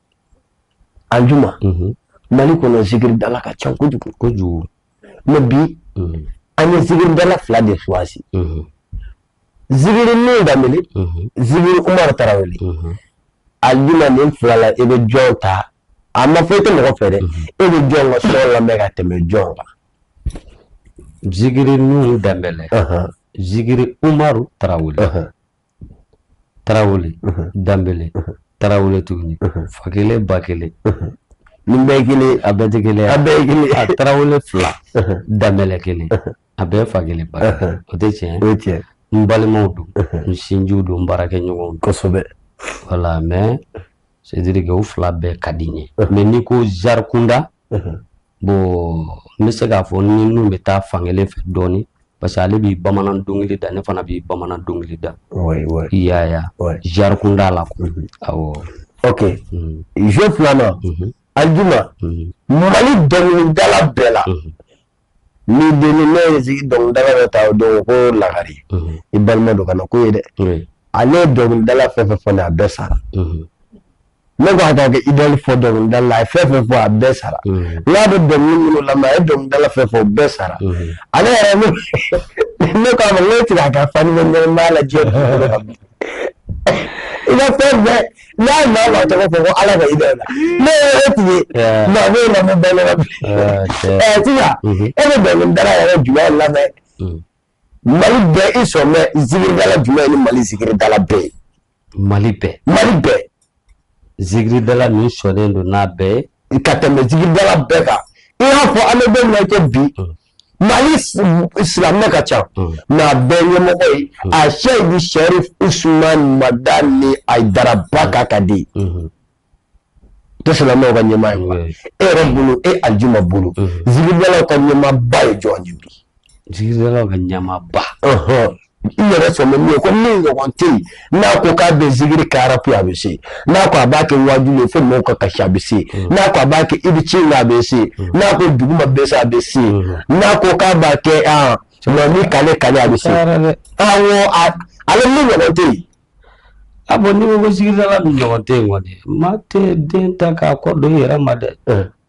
alijuma mali kɔnɔ zikiridala ka ca kojugu kojugu mɛ bi an ye zikiridala fila de choisi zikiri nuhun danbele zikiri umaru tarawele alijuma nin fila la e bɛ jɔn ta a ma fɔ i tɛ mɔgɔ fɛ dɛ e bɛ jɔn ka son lamɛn ka tɛmɛ jɔn kan zikiri nuhun danbele zikiri umaru tarawele tarawele danbele tarawele tuguni fa kelen ba kelen nin bɛɛ kelen a bɛɛ tɛ kelen a bɛɛ kelen a tarawele fila danbele kelen a bɛɛ fa kelen ba o tɛ tiɲɛ o ye tiɲɛ n balimaw don n sinjiw don n baarakɛɲɔgɔnw kosɛbɛ wala mɛ c'est dire que u fila bɛɛ ka di n ye mɛ n'i ko genre kunda bon n bɛ se k'a fɔ ni nuhun bɛ taa fan kelen fɛ dɔɔnin parce que ale bɛ bamanan dɔnkili da ne fana bɛ bamanan dɔnkili da i y'a ye genre kunda la ok jeu filanan alijuma mali dɔnkilidala bɛɛ la Ni den ne ye sigi dɔnkilidala dɔ ta o don ko lagare i balima don kana ko ye dɛ ale ye dɔnkilidala fɛn fɛn fɔ a bɛɛ sara ne ko a k'a ka idole fɔ dɔnkilidala la a ye fɛn fɛn fɔ a bɛɛ sara n'a bɛ dɔnkili minnu lamɛn a ye dɔnkilidala fɛn fɔ bɛɛ sara ale yɛrɛ ne ne tigɛ a ka fa b'a lajɛ i ka fɛn bɛɛ n'a maa maa tɔgɔ fɔ ko ala ka idole la ne ye e tun ye Yeah. mais ne ma bɛ bɛɛ lamɛn Ah, tiɲɛ. ɛɛ sisan Mhm. e bɛ dɔnkilidala yɛrɛ jumɛn lamɛn Mm. mali bɛɛ i sɔn bɛ zikiridala jumɛn ni mali zikiridala bɛɛ ye mali bɛɛ mali bɛɛ zikiridala min sɔnnen don n'a bɛɛ ye ka tɛmɛ zikiridala bɛɛ kan i y'a fɔ an bɛ don min na i ko bi Mali silamɛ ka ca nka bɛ ɲɛmɔgɔ ye a se bɛ seri us mada ni a daraba ka ka di ka ɲɛmaa ye e yɛrɛ bolo e a ju ma bolo zla ka ɲɛba ye jɔn ka ɲɛba i yɛrɛ sɔn bɛ min ye ko min ɲɔgɔn tɛ yen n'a ko k'a bɛ zikiri kɛ arapu a bɛ se n'a ko a b'a kɛ waajuli ye fo mɔgɔw ka kasi a bɛ se mm. n'a ko a b'a kɛ i bɛ ci la a bɛ se mm. n'a ko duguma bɛ se a bɛ se mm. n'a ko k'a b'a kɛ an mɛ ni kale kale a bɛ se awɔ ale min ɲɔgɔn tɛ yen. ah bon n'i ko ko zikiridala min ɲɔgɔn tɛ yen kɔni maa tɛ den ta k'a kɔ don i yɛrɛ ma dɛ.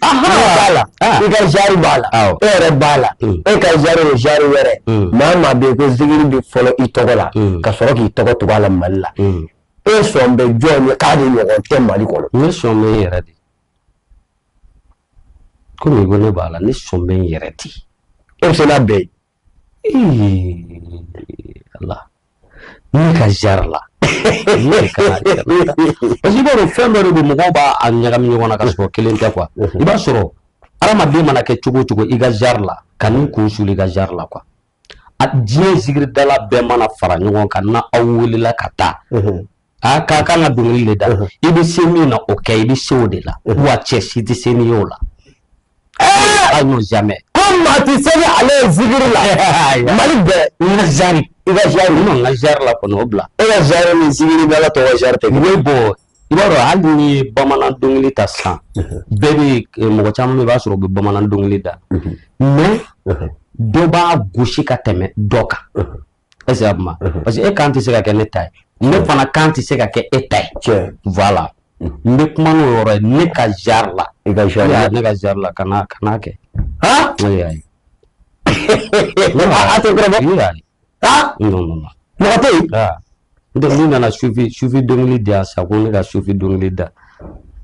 i ka genre b'a la e yɛrɛ b'a la e ka genre ye genre wɛrɛ maa maa bɛ yen ko zikiri bɛ fɔlɔ i tɔgɔ la ka sɔrɔ k'i tɔgɔ tugu a la mali la e sɔn bɛ jɔn ye k'a de ɲɔgɔn tɛ mali kɔnɔ ne sɔn bɛ n yɛrɛ de komi ko ne b'a la ne sɔn bɛ n yɛrɛ de e bɛ se n'a bɛɛ ye Allah ne ka genre la parce que i b'a dɔn fɛn dɔ de don mɔgɔw b'a a ɲagami ɲɔgɔn na ka sɔrɔ kelen tɛ quoi i b'a sɔrɔ hadamaden mana kɛ cogo o cogo i ka genre la ka n'i kun suli i ka genre la quoi a diɲɛ zikiridala bɛɛ mana fara ɲɔgɔn kan n'aw welela ka taa A k'a kan ka dɔnkili de da i bɛ se min na o kɛ i bɛ se o de la wa cɛ si tɛ se n'i ye o la ayi jamais ko maa tɛ se ni ale ye zikiri la mali bɛɛ n ka genre i ka genre n ka genre la kɔni o bila e ka genre ni zikiridala tɔw ka genre tɛ kelen bon i b'a dɔn hali n'i ye bamanan dɔnkili ta sisan bɛɛ bɛ eh, mɔgɔ caman i b'a sɔrɔ u bɛ bamanan dɔnkili da mais dɔ b'a gosi ka tɛmɛ dɔ kan est ce que a kuma mhm. parce que e kan tɛ se ka kɛ ne ta ye ne fana kan tɛ se ka kɛ e ta ye voilà mhm. n bɛ kuma n'o yɔrɔ ye ne ka genre la i ka genre la ne ka genre la ka n'a ka n'a kɛ han ne y'a ye a tɛ kɔrɔbɔ i y'a ye ah non non non mɔgɔ tɛ yen donc n'i nana sufi sufi dɔnkili di yan sa ko ne ka sufi dɔnkili da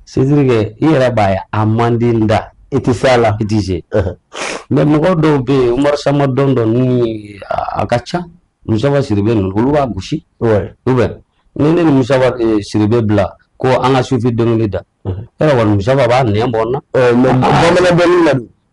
c'est-à-dire que i yɛrɛ b'a ye a man di n da i tɛ se a la i tɛ se mais mɔgɔ dɔw bɛ yen umaru sama dɔn dɔn ni a ka ca musaba siribe ninnu olu b'a gosi ou bien ni ne ni musaba eh, siribe bila ko an ka sufi dɔnkili da yɛrɛ kɔni musaba b'a nɛn bɔ n na mais bamanan dɔnkili la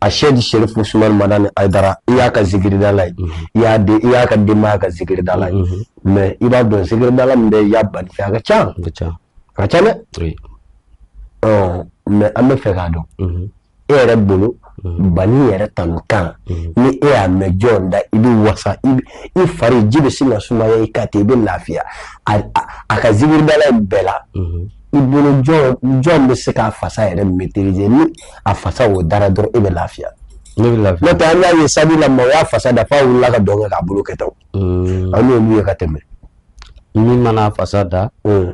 asɛdi serifu usumani madani ayidara i y'a ka zikiridala ye i y'a ka denbaya ka zikiridala ye mais i b'a dɔn zikiridala min bɛ yan bani fɛ a ka ca a ka ca dɛ mais an bɛ fɛ k'a dɔn e yɛrɛ bolo bani yɛrɛ tanu kan ni e y'a mɛn jɔn da i bɛ wasa i fari ji bɛ sin ka sumaya i ka ten i bɛ lafiya a ka zikiridala bɛɛ la i bolo jɔn bɛ se k'a fasa yɛrɛ maîtriser ni a fasa o dara dɔrɔn e bɛ lafiya n'o tɛ an y'a ye stade la maaw y'a fasa da f'a wulila ka dɔn kɛ k'a bolo kɛ tan hmm. an y'olu ye ka tɛmɛ min mana fasa da hmm.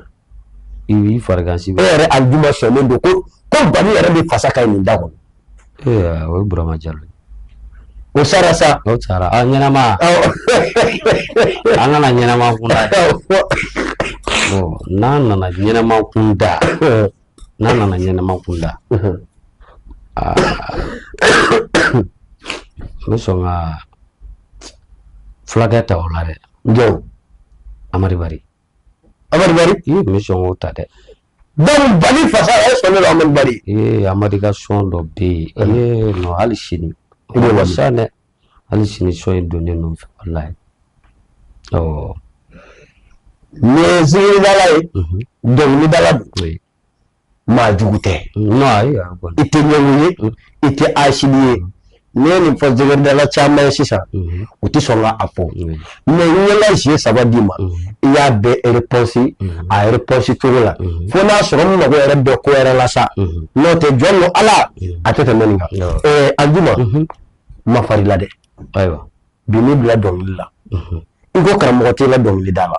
i b'i farigan si e yɛrɛ alijuma sɔnnen don ko bani yɛrɛ bɛ fasa ka ɲi nin da kɔnɔ Ee o ye burama jalo o sara sa o sara an ɲɛnama an ka na ɲɛnama kun n'an nana ɲɛnama kunda n'an nana ɲɛnama kunda n bɛ sɔn ka fulakɛ ta o la dɛ jɔn amadu bari amadu bari n bɛ sɔn k'o ta dɛ fasa amadu ka son dɔ bɛ yen hali sini o bɛ wasa dɛ hali sini son in donnen don fɛ walayi ɔ n'i ye zikiridala ye dɔnkilidala maa jugu tɛ i tɛ ɲɛngo ye i tɛ hasidi ye N'i ye nin fɔ zikiridala caman ye sisan u tɛ sɔn k'a fɔ mais n y'ala siɲɛ saba d'i ma i y'a bɛɛ réponse a réponse cogo la fo n'a sɔrɔ n mago yɛrɛ bɛ ko wɛrɛ la sa n'o tɛ jɔn don ala a tɛ tɛmɛ nin kan alijuma n ma far'i la dɛ ayiwa bi n b'i bila dɔnkili la i ko karamɔgɔ t'i la dɔnkilida la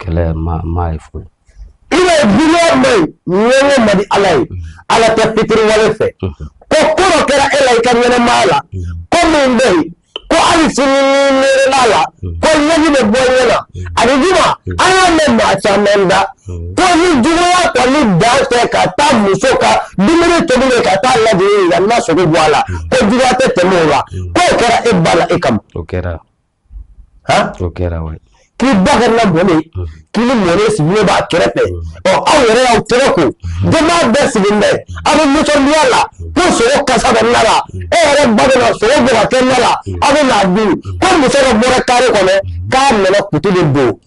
kɛlɛ ma ma ye foyi ina duniya mai ɲɛngo man di ala ye ala tɛ fitiriwale fɛ ko ko dɔ kɛra e la i ka ɲɛnamaya la ko min bɛ yen ko hali sini n'i miirila a la ko ɲɛji bɛ bɔ ɲɛ na alijuma an y'a mɛn maa caman da ko ni juguya kɔni dan tɛ ka taa muso ka dumuni tobilen ka taa lajigin ka na sogo bɔ a la ko juguya tɛ tɛmɛ o la k'o kɛra e ba la e kama o kɛra o kɛra wa k'i ba kɛra mɔlen k'i ni mɔlen sigilen b'a kɛrɛfɛ ɔ aw yɛrɛ y'aw tɛgɛ ko denbaya bɛɛ sigilen bɛ aw bɛ nisɔndiya la ko sogo kasa bɛ na la e yɛrɛ ba bɛ na sogo bɔ ka kɛ na la aw bɛ n'a dun ko muso dɔ bɔra kare kɔnɔ k'a nana kutu de don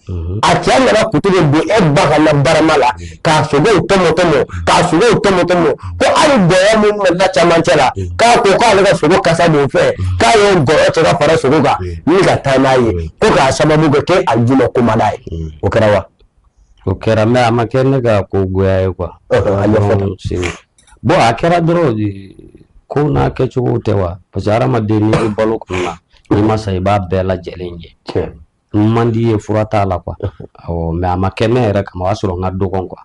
a cɛ nana kutu de don e ba ka na barama la k'a sogow tɔmɔtɔmɔ k'a sogow tɔmɔtɔmɔ ko hali gɔyɔ min bɛ na camancɛ la k'a ko k'ale ka sogo kasa don fɛ k'a ye gɔyɔ cɛ ka fara sogo kan ni ka taa n'a ye ko k'a sababu kɛ k'e a ju ma komada ye o kɛra wa o kɛra mais a ma kɛ ne ka ko goya ye quoi a ɲɛfɔ tan. Segu. bon a kɛra dɔrɔn de, ko n'a kɛcogow tɛ wa parce que hadamaden n'i bɛ balo kun na n'i ma sa i b'a bɛɛ lajɛlen ye tiɲɛ man di ye fura t'a la quoi awɔ mais a ma kɛ ne yɛrɛ kama o y'a sɔrɔ n ka dɔgɔn quoi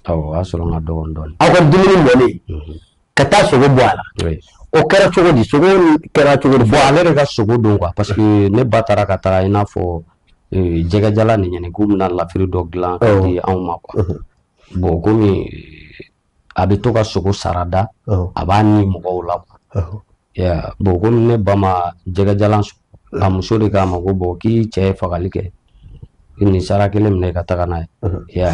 awɔ o y'a sɔrɔ n ka dɔgɔn dɔɔni aw ka dumuni mɔlen ka taa sogo bɔ a la o kɛra cogo di sogo kɛra cogo di bon ale de ka sogo don quoi parce que ne ba taara ka taga i n'a fɔ eh, jɛgɛjalan nin ɲini k'u bɛna lafiri dɔ dilan ka di anw ma quoi bon komi a bɛ to ka sogo sarada a b'a ni mɔgɔw la bon komi ne ba ma jɛgɛjalan sɔrɔ a muso de k'a ma ko bon k'i cɛ ye fagali kɛ nin sara kelen minɛ ka taga n'a ye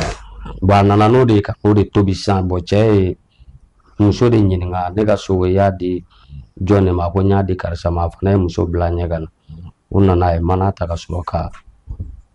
bon a nana n'o de ye ka o de tobi sa bon cɛ ye muso de ɲininka ne ka sogo y'a di jɔn de ma ko n y'a di karisa ma a fana ye muso bila ɲɛ ka na u nana a ye mana ta ka sɔrɔ ka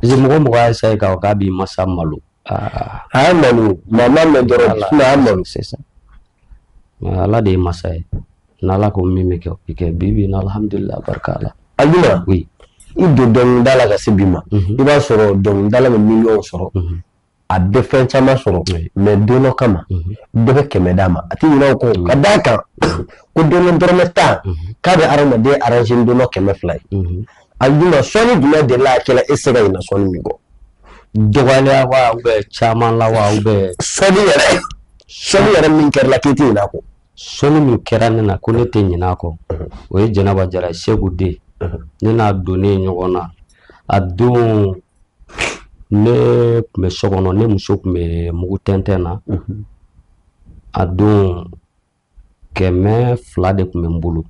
Parce que mɔgɔ mɔgɔ y'a essayer k'a fɔ k'a b'i masa malo aa a y'a malo maa m'a mɛn dɔrɔn Ala sinon a y'a malo c'est ça mais Ala de ye masa ye n'Ala ko min bɛ kɛ o bɛ kɛ bi bi in na alhamdulilayi barika Ala a ɲuman oui i don dɔnkilida la ka se bi ma i b'a sɔrɔ dɔnkilidala bɛ miliyɔn sɔrɔ a bɛ fɛn caman sɔrɔ mais don dɔ kama mhm. dɔ bɛ kɛmɛ d'a ma a tɛ ɲinɛ o kɔ mhm. ka d'a kan mhm. ko don dɔ dɔrɔmɛ tan k'a bɛ hadamaden aranze don dɔ kɛmɛ fila ye a dun na sɔnni jumɛn de la a kɛla e se ka ɲinɛ sɔnni min kɔ dɔgɔya wa u bɛ caman la wa u bɛ sɔnni yɛrɛ sɔnni yɛrɛ min kɛra i la k'e tɛ ɲinɛ a kɔ sɔnni min kɛra ne na ko ne tɛ ɲinɛ a kɔ o ye Jɛnɛba Jara ye Segu den ne n'a donnen ɲɔgɔn na a don ne kun bɛ so kɔnɔ ne muso kun bɛ mugu tɛntɛn na a don kɛmɛ fila de kun bɛ n bolo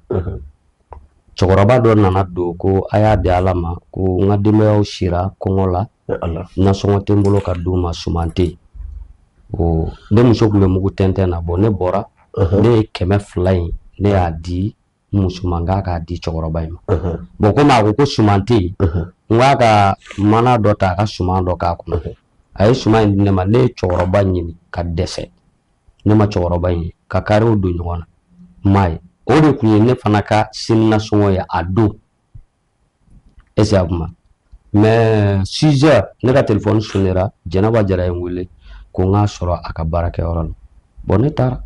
cɛkɔrɔba dɔ nana don ko a y'a di Ala ma ko n ka denbayaw sira kɔngɔ la nasɔngɔ tɛ n bolo ka d'u ma suman tɛ ne muso kun bɛ mugu tɛntɛn na bon ne bɔra ne ye kɛmɛ fila in ne y'a di n muso ma n k'a k'a di cɛkɔrɔba in ma bon komi a ko ko suman tɛ yen n k'a ka mana dɔ ta a ka suman dɔ k'a kɔnɔ a ye suman in di ne ma ne ye cɛkɔrɔba ɲini ka dɛsɛ ne ma cɛkɔrɔba in ye ka kariw don ɲɔgɔn na n m'a ye o de kun ye ne fana ka sini nasɔngɔ ye a don exactement mɛ sizɛ ne ka telefɔni sonera jɛnɛba jara ye n wele ko n k'a sɔrɔ a ka baarakɛyɔrɔ la bɔn ne taara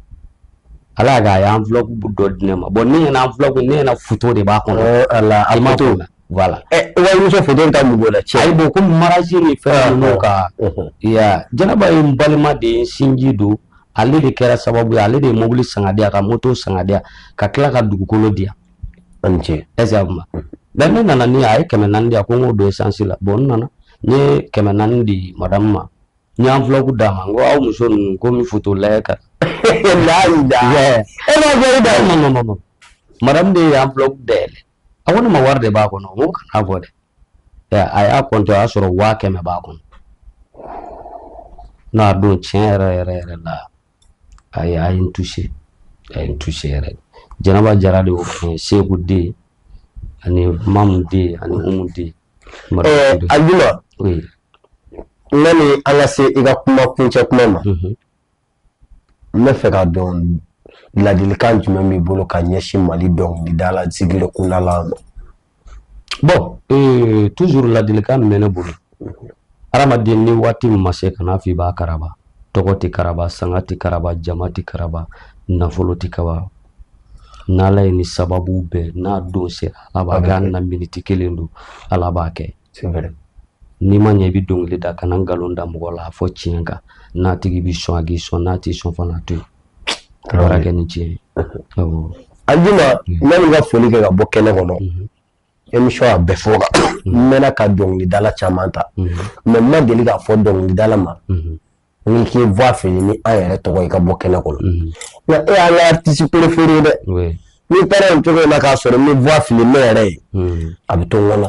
ala y'a kɛ a ye enveloppe dɔ di ne ma bɔn ne ɲɛna enveloppe ne ɲɛna foto de b'a kɔnɔ oh, ala a ma to la voilà eh, walimuso foto ta mun b'o la tiɲɛ ayi bɔn ko mariyazi ni fɛn ah, ninnu ah. ka uh-huh. ya jɛnɛba ye n balima de ye sinji don ale de kɛra sababu ye ale de ye mobili san k'a di yan ka moto san k'a di yan ka tila ka dugukolo di yan a ni ce exactement bɛn ne nana ni a ye kɛmɛ naani di a ko n k'o don esansi la bɔn n nana n ye kɛmɛ naani di madamu ma n ye enveloppe d'a ma n ko aw muso ninnu ko n bɛ foto lajɛ ka layi da Yeah. e ma fɔ i da Ɛɛ, non, non, non, non. madamu de ye enveloppe dayɛlɛ a ko ne ma wari de b'a kɔnɔ n ko kan'a fɔ dɛ Ɛ, a y'a kɔntɛ a y'a sɔrɔ waa kɛmɛ b'a kɔnɔ n'a don tiɲɛ yɛrɛ yɛrɛ yɛrɛ la a ye a ye n touché a ye n touché yɛrɛ Janaba Jara de y'o fɔ n ye Seku den ani Mamu den ani Umu den ɛɛ Ajuma oui yani an ka se i ka kuma kuncɛ kuma ma n b'a fɛ k'a dɔn ladilikan jumɛn b'i bolo ka ɲɛsin Mali dɔnkilidala zigiri kundala ma Bon ee tuzuru ladilikan min bɛ ne bolo adamaden ni waati min ma se kana fɔ i b'a karaba tɔgɔ tɛ karaba sanga tɛ karaba jama tɛ karaba nafolo tɛ karaba n' ala ye ni sababu bɛɛ n'a don sera ala b'a kɛ hali ni miniti kelen don ala b'a kɛ n'i ma ɲɛ i bɛ dɔnkili da kana nkalon da mɔgɔ la a fɔ tiɲɛ kan n'a tigi bɛ sɔn a ka sɔn n'a tɛ sɔn fana to yen kɛ ni tiɲɛ ye Ajuma yanni ka foli kɛ ka bɔ kɛnɛ kɔnɔ emi a bɛɛ fɔ n mɛnna ka dɔnkilidala caman ta mɛ ma deli k'a fɔ dɔnkilidala ma n k'i voix fili an yɛrɛ tɔgɔ i ka bɔ kɛnɛ kɔnɔ nka e y'an ka artiste préféré ye dɛ n'i taara nin cogo in na k'a sɔrɔ i ma voix fili ne yɛrɛ ye a bɛ to n kɔnɔ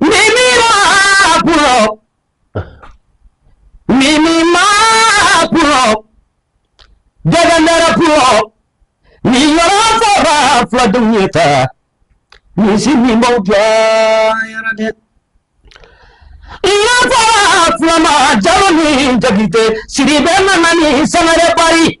mimi mapulo mimi mapulo jagandara pulo ni yɔrɔ saba fula dun ye ta ni si min b'aw jɔ yɛrɛ dɛ yɔrɔ saba fula ma jalo ni jagite sidibe nana ni sangare bari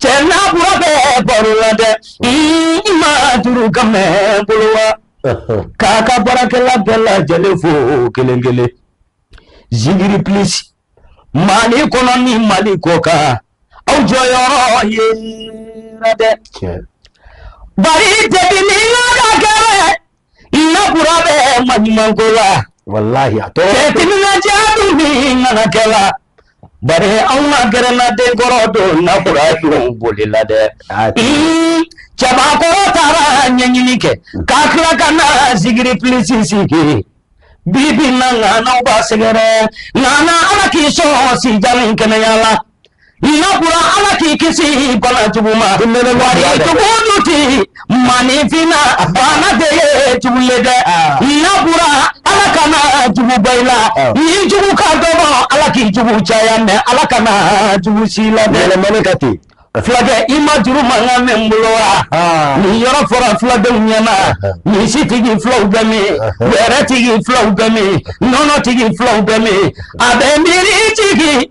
cɛ n'a bɔra bɛ baro la dɛ i ma duuru ka mɛn bolo wa k'a ka baarakɛla bɛɛ lajɛlen fo kelen kelen zigiri pilisi mali kɔnɔ ni mali kɔ kan aw jɔyɔrɔ yera dɛ bari depi ni yɔrɔ kɛlɛ walayi a bari an ma gɛrɛna denkɔrɔ don nakura boli la dɛ cɛbakɔrɔ taara ɲɛɲini kɛ k'a tila ka na zikiri plisi sigi bi bi na ŋanaw b'a sɛgɛrɛ ŋana ala k'i sɔn si jan ni kɛnɛya la Nakura ala k'i kisi bana jugu ma jugu dun tɛ maninfin bana de ye jugu ye dɛ nakura ala kana jugu ban i la i jugu ka dɔgɔ ala k'i jugu caya mɛn ala kana jugu si la yɛlɛmani ka ten fulakɛ i ma juru mankan mɛn n bolo wa nin yɔrɔ fɔra fuladenw ɲɛna misitigi fulaw bɛ min wɛrɛtigi fulaw bɛ min nɔnɔtigi fulaw bɛ min a bɛ miiri jigin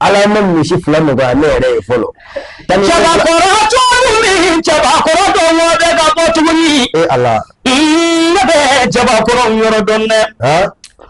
ala ma misi fila nɔgɔya ne yɛrɛ ye fɔlɔ cɛbakɔrɔ cogo min cɛbakɔrɔ dɔn o bɛ ka bɔ tuguni e ala ne bɛ cɛbakɔrɔ yɔrɔ dɔn dɛ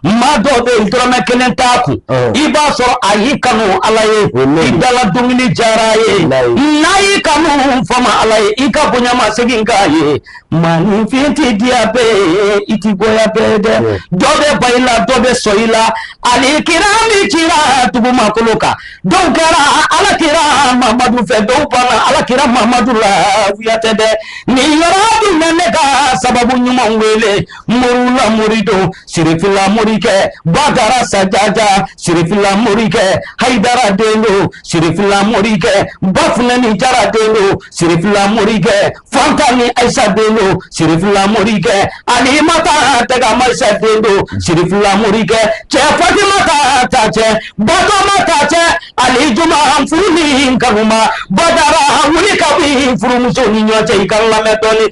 maa dɔw bɛ yen dɔrɔmɛ kelen t'a kun i b'a sɔrɔ a y'i kanu ala ye i dala dumuni diyara a ye n'a y'i kanu faama ala ye i ka bonya masegin k'a ye Maninfin tɛ diya bɛɛ ye i tɛ goya bɛɛ dɛ dɔ bɛ ban i la dɔ bɛ sɔn i la hali kira min cira dugumakolo kan dɔw kɛra ala kira mamadu fɛ dɔw banna ala kira mamadu la wuya tɛ dɛ nin yɔrɔ dun bɛna ne ka sababu ɲuman wele moriw la mori don sirifila morikɛ badara sajaja sirifila morikɛ hayidara den don sirifila morikɛ bafunɛ ni jara den don sirifila morikɛ fantani ayisa den don sirifila morikɛ alimata tɛ ka ma ayisa den don sirifila morikɛ cɛ fatimata ta cɛ batoma ta cɛ alijuma furu ni kanuma badara wuli ka bɛ furumuso ni ɲɔgɔn cɛ i k'a lamɛn dɔɔni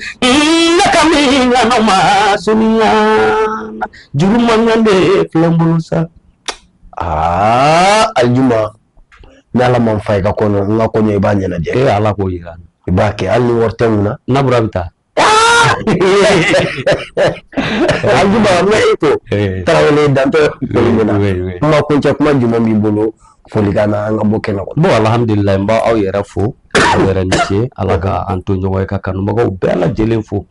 ne ka min ɲana ma sunya juru mankan de filɛ n bolo sa aa alijuma ni ala ma n fa i ka kɔɲɔ n ka kɔɲɔ i b'a ɲɛnajɛ e ala k'o yira i b'a kɛ hali ni wari tɛ n kun na n'a bɔra bɛ taa alijuma n bɛ e to tarawele dantɔ foli min na kuma kuncɛ kuma jumɛn b'i bolo folikan na an ka bɔ kɛnɛ kɔnɔ bon alhamdulilayi n b'aw yɛrɛ fo yɛrɛ ni ce ala ka an to ɲɔgɔn ye ka kanubagaw bɛɛ lajɛlen fo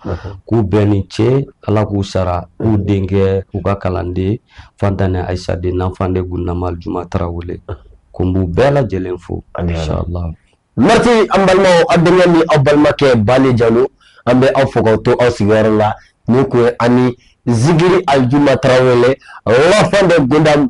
k'u bɛɛ ni ce ala k'u sara k'u denkɛ u ka kalanden fantani ayisa den l'enfant de gunama aljuma tarawele ko n b'u bɛɛ lajɛlen fo inshallah merci an balimaw aw denkɛ ni aw balimakɛ bale jalo an bɛ aw fo k'aw to aw sigiyɔrɔ la ni kun ye ani zigiri aljuma tarawele l'enfant de gunama